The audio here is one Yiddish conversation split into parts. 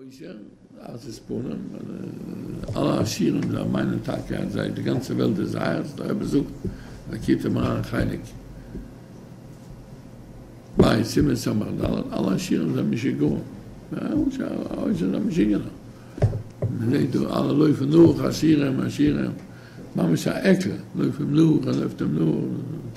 אויסער אז עס פארן אלע עשירים זיי מיינען טאקע אז זיי די גאנצע וועלט איז זייערס דער רבי זאגט לקוטי מוהרן חלק ב' סימן סמך ד' אלע עשירים זענען משוגעים אויסער זיי משוגענער מען זעהט דא אלע לויפן נאך עשירים עשירים ממש א עקל לויפן נאך ער לויפט אים נאך.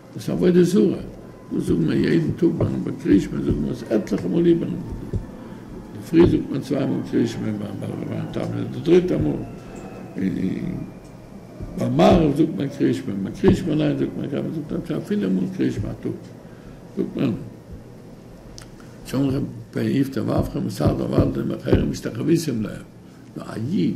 דאס איז עבודה זרה, דאס זאגן מיר יעדן טאג ביים בעל קרישמע, זאגן מיר עס עטליכע מאל איבערן אינדערפרי זאגט מען צוויי מאל קרישמע, ביים בעל רבי'ן טאמער איז די דריטע מאל, און ביים מהרא זאגט מען קרישמע, און ביים קרישמע אליין זאגט מען קאמער זאגט מען אפשר פינף מאל קרישמע א טאג, זאגט מען צמחי פ איפטא ואבחר מסארטא ואלדא דמי חרם משתחוויסים להם, נאר א איד.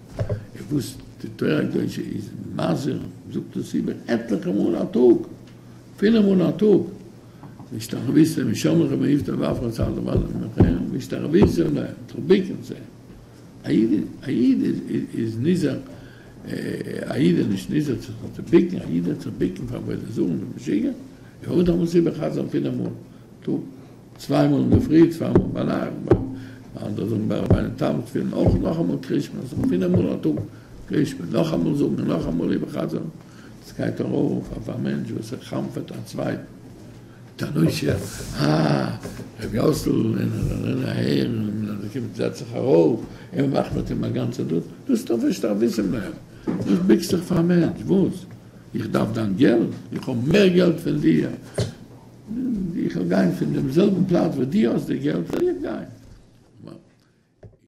איז וואס די תורה הקדושה איז מזהיר, זאגט דאס איבער עטליכע מאל א טאג, פילע מאל א טאג, והשתחוויתם משמריכם מעיבתא ואפרא צר דבר לעמכם, והשתחוויתם להם, זיך בוקן צו אים, א איד איז נזהר, א איד איז נישט נזהר זיך נישט צו בוקן, א איד האט זיך בוקן פאר עבודה זרה מיט משוגעים, איך האב דאך מסובב חזן פילע מאל א טאג. צוויי מאל אינדערפרי, צוויי מאל ביינאכט, ביי אנדערע זאגן ביי רבי'ן תם תפילין אויך נאכאמאל קריש מע, ס'איז פינף מאל א טאג קריש מע, נאכאמאל זאגן און נאכאמאל איבערחזר'ן, דאס גייט ארויף אויף א מענטש וואס ער חנפ'עט א צווייטן. מיט א נושא, אה, רבי יאסל, און ער זאל זען אהער, און אז ער קומט זעץ זיך ארויף, און מע מאכט מיט אים א גאנצע דאס, דאס דארף איך שטארק וויסן מער, וואס ביקסט זיך פאר א מענטש, וואס? איך דארף דיין געלט? איך האב מער געלט פון דיר? איך וועל גיין פון דעם זעלבן פלאץ וואו דו האסט די געלט וועל איך גיין.